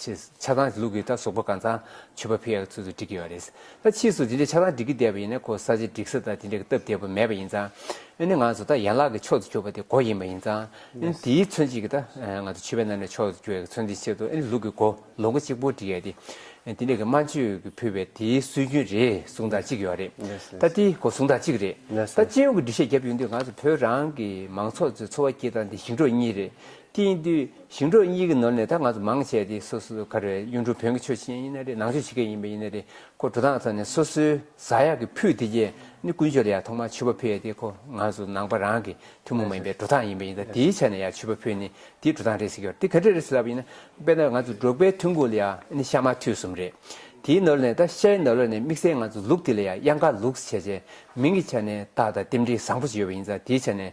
[SPEAKER 2] ཆེས་ཆགས་སྡང་གི་ལུགས་ཀྱིས་ད་གཟུགས་པོ་གང་ཚང་མཆོད་པ་ཕུལ་ཡག་ཚུལ་དུ་འགྲིག་གི་ཡོད་རེད། ད་ཕྱིས་སུ་དེ་འདྲའི་ཆགས་སྡང་འགྲིག་གི་བསྡད་པ་ཡིན་ན་ཁོ་ས་ཆ་འགྲིག་ས་དང་དེ་འདྲ་གི་སྟབས་བདེ་པོ་མེད་པ་ཡིན་ཙང། ཨེ་ནི་ང་ཚོ་ད་ཡན་ལག་གི་ཕྱོགས་སུ་གྱུར་པ་དེ་མགོ་ཡིན་པ་ཡིན་ཙང། ཨེ་ནི་དེའི་མཚོན་བྱེད་ཀྱི་ད་ང་ཚོ་ཕྱི་པའི་ནང་ནས་ཕྱོགས་སུ་གྱུར་ཡག་གི་མཚོན་དེའི་ཆེད་དུ་ཨེ་ནི་ལུགས་ཀྱི་མགོ་ལོ་འགོ་གཅིག་པོ་འགྲིག་ཡག་དེ། དེ་འདྲ་གི་སྨྲ་བརྗོད་ཀྱི་ཕུལ་བའི་དེའི་སྲོལ་རྒྱུན་རེད་གཟུང་ཐག་གཅིག་ཡོད་རེད། ད་དེའི་གོ་གཟུང་ཐག་གཅིག་རེད། ད་སྤྱི་ཡོངས་ཀྱི་འགྲེལ་བཤད་བརྒྱབ་ཡོང་དུས་ང་ཚོ་བོད་རང་གི་མང་ཚོགས་ཚོའི་འཚོ་བ་སྐྱེལ་སྟངས་དེ་ཞིང་འབྲོག་གཉིས་རེད། དེང་དུས་ཞིང་འབྲོག་གཉིས་ཀྱི་ནོར་ནས་ད་ང་ཚོ་མང་ཆེ་དེ་སོ་སོའི་ཁར་གཡུང་དྲུང་བོན་གྱི་ཆོས་བྱེད་མཁན་ཡིན་ན་རེད་ནང་ཆོས་བྱེད་མཁན་ཡིན་པ་ཡིན་ན་རེད་ཁོ་དྲུག་དང་ཚོ་ནས་སོ་སོའི་བཟའ་ཡག་གི་ཕུད་དེ་རྗེས་ནི་ཀུན་སྤྱོད་ལ་ཡང་ཐོག་མར་ཆུ་བ་ཕུད་ཡ་དེ་ཁོ་ང་ཚོ་ནང་པ་རང་གི་ཐུན་མོང་མ་ཡིན་པའི་འགྲོ་སྟངས་ཡིན་པ་ཡིན་ད་དེའི་ཆ་ནས་ཡང་ཆུ་བ་ཕུད་ནི་དེའི་འགྲོ་སྟངས་རེད་ཟེར་གྱི་རེད་དེ་ག་འདྲ་རེད་ཟེར་ལབ་པ་ཡིན་ན་དཔེར་ན་ང་ཚོ་འབྲོག་པའི་ཐུན་གོ་ལ་ཡང་ནི་ཤ་མ་ཐུད་གསུམ་རེད་དེའི་ནོར་ལས་ད་ཤའི་ནོར་ལ་ནས་དམིགས་བསལ་ང་ཚོ་ལུག་དེ་ལ་ཡང་དབྱང་ཀ་ལུགས་ཟེར་བྱས་མིང་གི་ཆ་ནས་ད་ད་རྟེན་འབྲེལ་བཟང་པོ་ཞིག་ཡོད་པ་ཡིན་ད་དེའི་ཆ་ནས་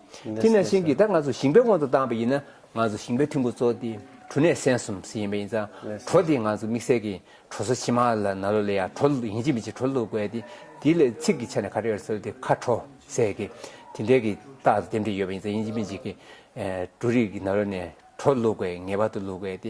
[SPEAKER 2] དེ་ནས་ཤིང་གིས་ད་ང་ཚོ་ཞིང་པའི་དབང་དུ་བཏང་བ་ཡིན་ན་ང་ཚོ་ཞིང་པའི་ཐུན་གོ་ཚོགས་དེ་གྲུ་ནས་སན་གསུམ་ཟིན་ཡིན་པ་ཡིན་ཙང་གྲོ་དེ་ང་ཚོ་དམིགས་བསལ་གྱི་གྲོ་སོ་ཕྱི་མ་ལ་ན་ལོ་ལས་ཡག་གྲོ་ལུག་ཡིན་གཅིག་མིན་གཅིག་གྲོ་ལུག་དགོས་ཏེ་དེ་ལས་ཚིག་གི་ཆ་ནས་ཁ་བྲལ་སོལ་ཏེ་ཁ་གྲོ་ཟེར་གི་དེ་འདྲའི་གི་རྟགས་དེ་འདྲ་ཡོད་པ་ཡིན་ཙང་ཡིན་གཅིག་མིན་གཅིག་གི་གྲུ་རིགས་ཀྱི་ན་ལོ་ནས་གྲོ་ལུག་དགོས་ངེས་པར་དུ་ལུག་དགོས་ཏེ་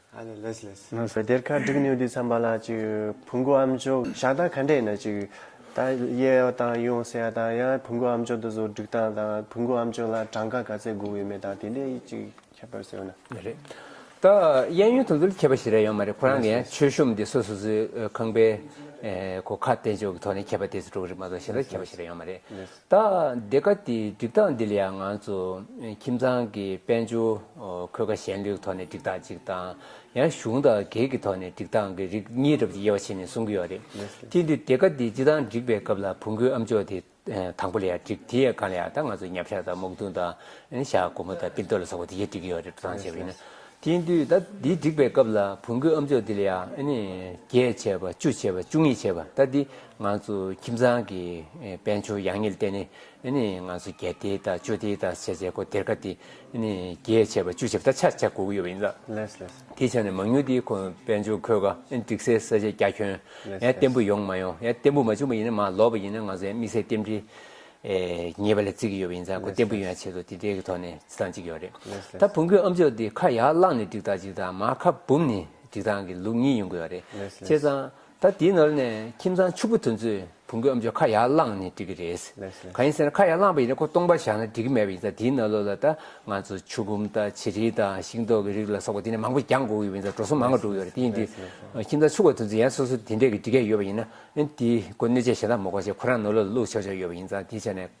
[SPEAKER 1] ང་ཚོ་དེར་ཁ་བསྒྲིགས་ནུས་དུས་མཚམས་པ་ལ་ཅིག་བུ་འགོ་ཨམ་ཅོག་བཞག་སྟངས་ག་འདྲས་ན་ཅིག་ད་གཡས་ཡོང་སྟངས་ཡོང་ཟེར་ཡ་དང་ཡང་བུ་འགོ་ཨམ་ཅོག་དུ་ཟོ་བསྒྲིགས་སྟངས་དང་བུ་འགོ་ཨམ་ཅོག་ལ་གྲངས་ཀ་ག་ཚད་དགོས་ཡོད་མེད་དང་དེ་འདྲས་ཅིག་ཁྱབ་པར་ཟེར་བ་ན། རེད་
[SPEAKER 2] ད། གཡས་གཡོན་དུ་ཟོ་ལ་ཁྱབ་པ་ཞིག་རེད་ཡོད་མ་རེད་ཁོ་རང་གི་ཡང་ཆོས་གཞུང་དེ་སོ་སོ་སོའི་ཁང་པའི་གོ་ཁ་བསྟན་བཅོས་ཀྱི་ཐོག་ནས་ཁྱབ་པ་དེ་ཚོ་འགྲོ་གི་རེད་མ་གཏོགས་གཞན་དག་ཁྱབ་པ་ཞིག་རེད་ཡོད་མ་རེད། ད་འདི་ག་དེའི་འགྲིག་སྟངས་འདི་ལ་ཡང་ང་ཚོ་ཁྱིམ་ཚང་གི་དཔལ་འབྱོར་འཁོས་ཀ་ཞན་ལུགས་ཐོག་ནས་འགྲིག་སྟངས་གཅིག་དང་ཡང་གཞུང་དང་སྒེར་གྱི་ཐོག་ནས་འགྲིག་སྟངས་ཀྱི་རིགས་གཉིས་རབ་ཀྱི་དབྱེ་བ་ཕྱེ་ནས་གསུང་གི་ཡོད་རེད། དེ་འདི་འདི་ག་དེ་སྤྱི་དང་འགྲིག་པའི་སྐབས་ལ་བུ་འགོའི་ཨམ་ཅོག་དེ་དང་པོ་ལ་ཡང་འགྲིག་དེ་ཡང་གང་ལ་ཡང་ད་ང་ཚོ་ཉབ་ཤ་དང་སྨུག་རྡུང་དང་ཤ་སྒོར་མོ་དང་པིར་རྡོ་ལ་སོགས་པ་དེ་གཞི་འགྲིག་གི་ཡོད་རེད་འགྲོ་སྟངས་བྱས་པ་ཡིན་ན། དེ་འདི་ད་འདི་འགྲིག་པའི་སྐབས་ལ་བུ་འགོའི་ཨམ་ཅོག་དེ་ལ་ཡང་ཨ་ནི་བརྒྱད་བྱས་པ་བཅུ་བྱས་པ་བཅུ་གཉིས་བྱས་པ་ད་འདི་ང་ཚོ་ཁྱིམ་ཚང་གི་དཔལ་འབྱོར་ཡག་ཉེས་ལ་བལྟས་ནས་ང་ཚོ་རྒྱལ་སྡེ་དང་གཅོད་སྡེ་དང་བྱས་ཚེ་སྒོ་དེར་ཁ་དེ་རྒྱས་ཆེ་བ་བཅུ་བྱས་པ་ད་ཆར་ཆ་དགུ་དགུ་ཡོད་པ་ཡིན་ལ། དེའི་ཆ་
[SPEAKER 1] ནས་མང་ཉུང་དེའི་
[SPEAKER 2] ཁོངས་དཔལ་འབྱོར་འཁོས་ཀ་སྒྲིག་སའི་ས་ཆ་རྒྱ་ཁྱོན་ཡང་བརྟན་པོ་ཡོང་མ་ཡོང་ཡང་བརྟན་པོ་མ་བྱུང་བ་ཡིན་ན་མ་ལོག་པ་ཡིན་ན་ང་ཚོ་ཡང་དམིགས་བསལ་རྟེན་འབྲེལ་ཉེས་པ་ལ་བརྩི་གི་ཡོད་པ་ཡིན་ཙང་སྒོ་བརྟན་པོ་ཡོང་ཡ་ཆེད་དུ་དེ་འདྲའི་གི་ཐོག་ནས་བརྩི་སྟངས་གཅིག་ཡོད་རེད་ད་བུ་མགོའི་ཨམ་ཅོག་དེ་ཁ་ཡར་བླངས་ནས་སྒྲིག་སྟངས་གཅིག་དང་མ་ཁ་བུམ་ནས་སྒྲིག་སྟངས་གི་ལུགས་གཉིས་ཡོང་གི་ཡོད་རེད་བྱས་ཙང་ད་དེའི་ནོར་ནས་ཁྱིམ་ཚང་ཕྱུག་པོ་དེ་ཚོས་བུ་འགོས་ཨམ་ཆོས་ཁ་ཡར་བླངས་ནས་འགྲིག་གི་རེད། གང་ཡིན་ཟེར་ན་ཁ་ཡར་བླངས་པ་ཡིན་ན་ཁོ་སྟོང་པར་བཞག་ན་འགྲིག་གི་མེད་པ་ཡིན་ཙང་དེའི་ནོར་ལོག་ལ་ད་ང་ཚོ་ཆུ་བུམ་དང་བྱི་རིལ་དང་ཤིང་ཏོག་གི་རིགས་ལ་སོགས་པ་དེ་ནས་མང་པོ་རྒྱག་འགོ་གི་ཡོད་ཙང་འགྲོ་སོང་མང་ང་འགྲོ་གི་ཡོད་རེད་དེ་ཡིན་དུས་ཁྱིམ་ཚང་ཕྱུག་པོ་དེ་ཚོས་ཡང་སོ་སོ་དེ་འདྲས་ཀྱི་འགྲིག་ག་ཡོད་པ་ཡིན་ན་དེའི་སྒོ་གནོད་ཆས་གཞན་དག་མི་གོ་ཞེས་ཁོ་རང་ནོར་ལོག་ལ་བླུག་ཆོག་ཆོག་ཡོད་པ་ཡིན་ཙང་དེའི་ཆ་ནས།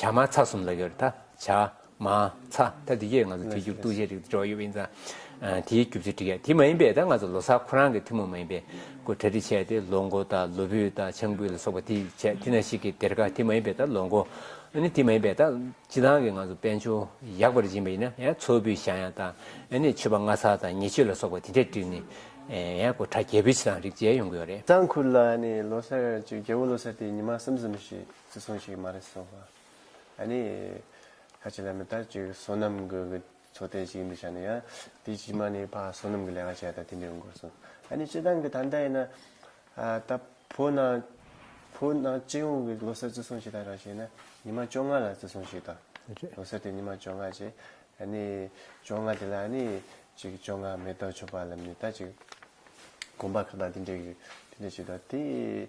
[SPEAKER 2] བྱ་མ་ཚ་གསུམ་ལ་ཡོད་རེད་ད། བྱ། མ། ཚ། ད་འདི་གས་ང་ཚོ་དུས་རྒྱུགས་གཏུགས་བྱེད་རིགས་དེ་འགྲོ་ཡོད་པ་ཡིན་ཙང། དེའི་རྒྱུ་མཚོན་འགྲིག་ཡ་དེ་མ་ཡིན་པས་ད་ང་ཚོ་ལོ་སར་ཁོ་རང་གི་ཐུན་མོང་མ་ཡིན་པའི་སྐོར་གྲ་སྒྲིག་བྱས་ཏེ་ལོ་མགོ་དང་ལོ་བུད་དང་ཆང་བུད་ལ་སོགས་པ་དེ་བྱས་དེ་ན་ཞིག་གི་སྡེར་ཁ་དེ་མ་ཡིན་པས་ད་ལོ་མགོ། ནི་དེ་མ་ཡིན་པས་ད། སྤྱི་ལང་གི་ང་ཚོ་དཔལ་འབྱོར་ཡག་པར་སྦྱིན་པ་ཡིན་ན་ཡང་མཚོ་བུད་ཞང་ཡང་དང། ནི་མཆོད་པ་ལྔ་ཚར་དང་ཉེ་མཆོད་ལ་སོགས་པ་དེ་འདྲས་བསྒྲིགས་ནི། ཡང་སྐོར་གྲ་རྒྱས་བུད་ཕྱི་ལང་རིགས་བྱས་ཡོང་གི་ཡོད་རེད། གཙང་ཁུལ་ལ་ནི་ལོ་
[SPEAKER 1] སར་གཅིག་རྒྱལ་བོ་ལོ་སར་དེ་ཉི་མ་གསུམ་གསུམ་ཞིག། བརྩི་མཚོན་ཞིག་མ་རེད་བསམ། ཨ་ནི། ཁ་ཆེ་ལ་མི་ལྟ་ཅིག་བསོད་ནམས་ཀྱི་གི་ཚོ་དེ་ཅིག་ཡིན་པའི་ཆ་ནས་ཡང། དེ་ཕྱི་མ་ནི་ཕ་བསོད་ནམས་ཀྱི་ལས་ཀ་བྱས་ད་དེ་འདྲས་ཡོང་དགོས་བསམ། ཨ་ནི་སྤྱི་བཏང་གི་ད་འདྲ་ཡིན་ན། ད་བོད་ནང། བོད་ནང་སྤྱི་ཡོངས་ཀྱི་ལོ་སར་བརྩི་སྲུང་བྱེད་ད་རང་བྱས་ན་ཉི་མ་བཅོ་ལྔ་ལ་བརྩི་སྲུང་བྱེད་ད། ལོ་སར་དེ་ཉི་མ་བཅོ་ལྔ་བྱེད། ཨ་ནི། བཅོ་ལྔ་དེ་ལ་ཨ་ནི། ཅིག་བཅོ་ལྔ་མེ་ཏོག་མཆོད་པ་ལ་མི་ལྟ་ཅིག། དགོན་པ་ཁག་ད་དེ་འདྲས་གི་དེ་འདྲས་བྱེད་ད་དེ།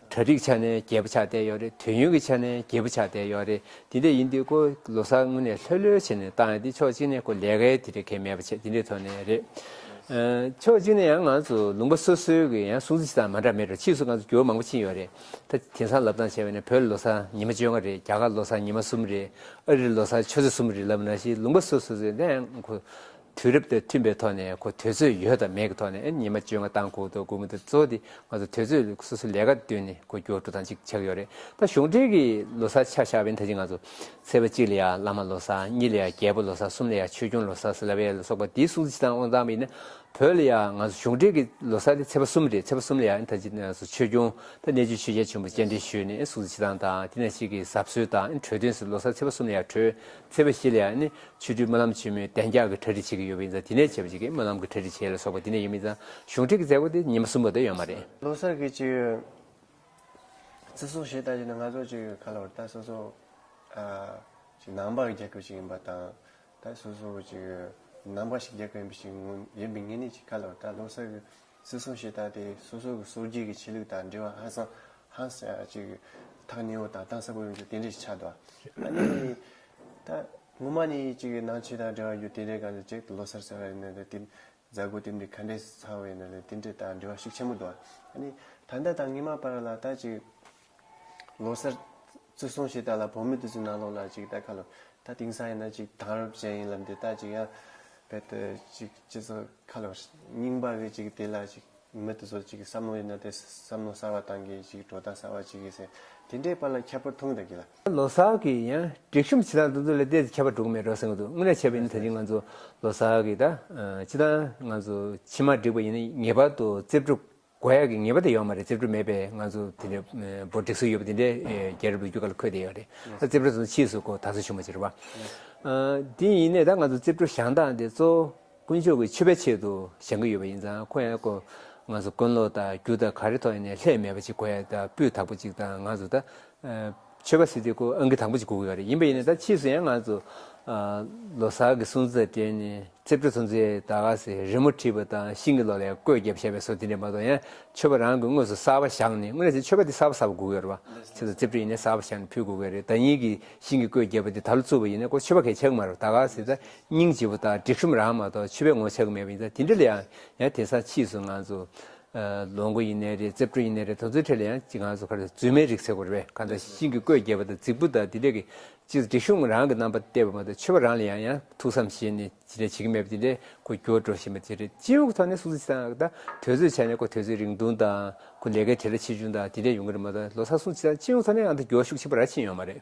[SPEAKER 2] གྲ་སྒྲིག་ཆ་ནས་རྒྱས་པོ་ཆགས་བསྡད་ཡོད་རེད་དུས་ཡུན་གྱི་ཆ་ནས་རྒྱས་པོ་ཆགས་བསྡད་ཡོད་རེད་དེ་འདྲ་ཡིན་དུས་ཀོ་ལོ་སར་དངོས་གནས་ལྷོད་ལྷོད་བྱས་ནས་བཏང་ཡོད་དེ་ཕྱོགས་གཅིག་ནས་ཀོ་ལས་ཀའི་དེ་འདྲ་གལ་མེད་པ་བྱས་དེ་འདྲའི་ཐོག་ནས་རེད། ཕྱོགས་གཅིག་ནས་ཡང་ང་ཚོ་ལུང་པ་སོ་སོའི་གི་ཡང་སྲུང་བརྩི་བྱེད་སྟངས་མ་འདྲ་མེད་རེད་ཕྱིས་སུ་ང་ཚོ་འགྱུར་བ་མང་པོ་ཕྱིན་ཡོད་རེད་ད་དེང་སང་ལབ་སྟངས་བྱས་པ་ནི་བོད་ལོ་སར་ཉི་མ་བཅོ་ལྔ་རེད་རྒྱ་གར་ལོ་སར་ཉི་མ་གསུམ་རེད་ཨ་རིར་ལོ་སར་ཆུ་ཚོད་གསུམ་རེད་ལབ་ན་ཞིག་ལུང་པ་སོ་སོ་ཚོས་འདྲ་ཡང་ཁོ་དུས་རབས་དང་མཐུན་པའི་ཐོག་ནས་གོ་དོན་ཚོད་ཡོད་དང་མེད་ཀྱི་ཐོག་ནས་ཉི་མ་བཅོ་ལྔ་དང་དགུང་དང་དགུང་མོ་དང་གཙོ་དེ་ང་ཚོ་དུས་ཚོད་སོ་སོའི་ལས་ཀ་བསྟུན་ནས་གོ་སྐྱོ་དྲུག་དང་གཅིག་ཆགས་ཡོད་རེད་ད་གཞུང་འབྲེལ་གྱི་ལོ་སར་ཆ་བཞག་པའི་ཐ་ཆེ་ང་ཚོ་ཚེས་པ་གཅིག་ལ་ཡང་བླ་མ་ལོ་སར་གཉིས་ལ་ཡང་རྒྱལ་པོ་ལོ་སར་གསུམ་ལ་ཡང་ཆོས་སྐྱོང་ལོ་སར་སེལ་བའི་ལ་སོགས་པ་དེའི་སྲུང་བརྩི་དང་དབང་ཐང་མིན་ན་བོད་ལ་ཡང་ང་ཚོ་གཞུང་འབྲེལ་གྱི་ལོ་སར་དེ་ཚེས་པ་གསུམ་རེད་ཚེས་པ་གསུམ་ལ་ཡང་ད་ཅིག་ང་ཚོ་ཆོས་སྐྱོང་དང་གནས་ཆུ་ཆོས་རྒྱལ་ཆེན་པོ་སྤྱན་འདྲེན་ཞུས་ནས་སྲུང་བརྩི་བྱེད་སྟངས་དང་དེ་ན་ཞིག་གི་གཟབ་གསོལ་དང་གྲོས་དོན་སུ་ལོ་སར་ཚེས་པ་གསུམ་ལ་ཡང་གྲོས་ཚེས་པ་བཞི་ལ་ཡང་ནི་ཆོས་སྤྲུལ་སྨོན་ལམ་ཆེན་མོའི་གདན་རྒྱག་གི་གྲ་སྒྲིག་བྱེད་ཀྱི་ཡོད་པ་ཡིན་ཙང་དེ་ནས་བྱེད་པ་བྱེད་ཀྱི་སྨོན་ལམ་གྱི་གྲ་སྒྲིག་བྱེད་ལ་སོགས་པ་དེ་ནས་ཡོད་མིན་ཙང་གཞུང་ཁྲིད་ཀྱི་མཛད་སྒོ་དེ་ཉི་མ་གསུམ་པ་དེ་ཡོད་མ་རེད། ལོ་གསར་གྱི་ཅི་ཡོད་
[SPEAKER 1] བརྩི་སྲུང་བྱེད་ལྟ་ཅི་ནི་ང་ཚོ་ཅི་ཡོད་ག་ལ་བར་ད་སོ་སོ་ཅིག་ནང་པ་རྒྱག་གི་ཅིག་ཡིན་པ་དང་ད་སོ་སོ་ཅིག་ནང་པ་ཞིག་རྒྱག་གི་ཡིན་པ་ཞིག་ཡིན་པའི་ངེས་ནི་ཅིག་ག་ལ་བར་ད་ལོ་གསར་གྱི་སྲིད་གསུམ་ཞེས་བཏགས་ཏེ་སོ་སོ་གི་སོར་རྒྱུན་གྱི་ཆེ་ལུགས་དང་འབྲེལ་བ་ཧང་སང་ཧང་སང་ཅིག་ཐག་ཉེ་བོ་དང་གཏང་ས་པོ་ཡོང་རྒྱུ་དེ་འདྲས་ཆགས་འདུག་ཨ་ནི། ད་ངོ་མ་ནི་ཅིག་གི་ནང་ཆོས་དང་འབྲེལ་བ་རྒྱུ་དེ་འདྲས་གང་ལས་ཅིག་ལོ་སར་ཟེར་བ་ཡིན་ན་ལས་དེ་འཛད་སྒོ་དེ་འདྲས་ག་འདྲས་སུ་ཚང་བ་ཡིན་ན་ལས་དེ་འདྲས་དང་འབྲེལ་བ་ཤུགས་ཆེན་པོ་འདུག་ཨ་ནི། ད་ཟླ་དང་ཉི་མ་བར་ལ་ད་ཅིག། ལོ་གསར། བཙུགས་སོང་ཞེས་བལྟ་ལ་བོད་མི་དེ་ཚོའི་ནང་ལོགས་ལ་ཅིག་བལྟ་ཁ་ལོ། ད་དེང་སང་ཡིན་ན་ཅིག་དྭང་རབས་ཅན་ཡིན་ལབ་འདི་ལྟ་ཅིག་ཡང། བལྟ་དེ་ཅིག་སྤྱི་ཚོགས་ཁ་ལོ། རྙིང་པ་གི་ཅིག་དེ་ལ་ཅིག་མི་དེ་ཚོ་ཅིག་བསམ་བློ་ཡོད་ན་དེ་བསམ་བློ་གསར་བ་གཏང་གི་ཅིག་གྲོ་རྟགས་གསར་བ་ཅིག་གི་ཟེར་དེ་འདྲའི་པར་ལ་ཁྱད་པར་མཐོང་གི་ད་གི་ལ། ལོ་གསར་གི་ཡང་
[SPEAKER 2] སྒྲིག་ཤོམ་བྱེད་སྟངས་དེ་ཚོ་ལ་བལྟས་ཚེ་ཁྱད་པར་འགྲོ་གི་མེད་རོ་ཟེར་གི་འདུག་དངོས་གནས་བྱས་པ་ཡིན་ན་ད་ཅིག་ང་ཚོ་ལོ་གསར་གི་ད་ཅི་ད་ང་ཚོ་ཕྱི་མ་སྒྲིག་པ་ཡིན་ན་ངེས་པར་དུ་རྩིབས་སྒྲུབ། དགོས་ཡག་གི་ངེས་པ་དེ་ཡོད་མ་རེད་རྩིབ་སྒྲུབ་མེད་པའི་ང་ཚོ་དེ་འདྲའི་འབོར་སྒྲིག་སྲོལ་ཡོད་པ་དེ་འདྲའི་རྒྱལ་རབས་ལོ་རྒྱུས་ཀ་ལ་འཁོད་བསྡད་ཡོད་རེད་རྩིབ་སྒྲུབ་ཕྱིས་སུ་གོ་ད་གཟོད་བྱུང་བ་ཅི་རེད་བ། དེ་ཡིན་ནའི་ད་ང་ཚོ་རྩིབ་སྒྲུབ་བཞག་སྟངས་དེ་གཙོ་བོ་དཀོན་མཆོག་གི་མཆོད་པའི་ཆེད་དུ་བཞག་གི་ཡོད་པ་ཡིན་ཙང་ཁོ་ཡང་གོ་ང་ཚོ་དཀོན་ལོ་དང་རྒྱུ་དང་ག་རེ་ཐོག་ནས་ལྷད་མེད་པ་ཅིག་གོ་ཡག་དང་སྤུས་དག་པོ་ཅིག་དང་ང་ཚོ་ད་ཆོལ་ཁ་སྲིད་དེ་ཁོ་ཨང་ཀི་དང་པོ་ཅིག་གོ་གི་རེད་ཡིན་པ་ཡིན་ནའི་ད་ཕྱིས་སུ་ཡང་ང་ཚོ་ལོ་སར་གི་སྲུང་བརྩི་དང་འབྲེལ་ནས་རྩིབ་སྤྲོ་ཚོམ་བཟོའི་ད་ག་ཟེ་རི་མོ་བྲིས་པ་དང་ཤིང་གི་ལོ་ལེགས་བཀོད་བརྒྱབ་བྱས་པའི་སོ་དེ་འདྲས་མ་གཏོགས་ཡང་ཆོལ་བ་རང་གི་དངོས་སུ་གསར་བ་བཞག་ནས་དངོས་ནས་ཆོལ་ཁ་དེ་གསར་བ་གསར་བ་གོ་གི་ཡོད་རེད་བ་ཆེད་དུ་རྩིབ་སྤྲོ་ཡིན་ནའི་གསར་བ་བཞག་ནས་ཕུལ་གོ་གི་རེད་ད་ཉིད་ཀྱི་ཤིང་གི་བཀོད་བརྒྱབ་པ་དེ་ད་ལོ་བཙུགས་པ་ཡིན་ནའི་ཁོ་ཆོལ་བ་གས་ཆགས་གི་མ་རེད་བ་ད་ག་ཟེ་ད་སྙིང་རྗེ་བོ་དང་སྒྲིག་ཤོམ་རང་མ་གཏོགས་ཆོལ་བས་ངོ་ཆགས་གི་མེད་པ་ཡིན་ད་དེ་འདྲས་ལ་ཡང་ཡང་དེང་སང་ཕྱིས་སུ་ང་ཚོ་ལོ་འགོ་ཡིན་ནའི་རེད་རྩེ་བཀྲུ་ཡིན་ནའི་རེད་དོ་ཚོའི་ཁྲེད་ལ་ཡང་ཅི་གང་སུ་ཁར་རྫུན་མའི་རིགས་ཚེ་གོ་རེ་བས་གང་ལྟར་ཤིང་གི་བརྐོས་རྒྱས་པ་དང་རྫིག་པོ་དང་དེ་འདྲས་ཀྱི་ཅི་སྒྲིག་གཞུང་རང་གི་རྣམ་པ་གཏད་པ་མ་གཏོགས་ཆོས་པ་རང་ལ་ཡང་ཡང་ཐུགས་བསམ་བཞེས་ནས་ཅི་འདྲས་བྱེད་ཀྱི་མེད་པ་དེ་འདྲས་ཁོ་འགྱུར་བ་འགྲོ་བཞིན་པ་དེ་རེད་སྤྱི་ཡོངས་ཀྱི་ཐོག་ནས་སུ་ཚིག་དང་དང་དོལ་ཚོས་བྱས་ནས་ཁོ་དོལ་ཚོའི་རིང་ཐུང་དང་ཁོ་ལས་ཀའི་ཁྲེད་ལ་ཆེ་ཆུང་དང་དེ་འདྲས་ཡོང་གི་རེད་མ་གཏོགས་ལོ་སར་སུ་ཚིག་དང་སྤྱི་ཡོངས་ཐོག་ནས་ཨང་དང་སྒྱོགས་ཤུགས་ཆེན་པོ་ར་ཕྱིན་ཡོང་མ་རེད།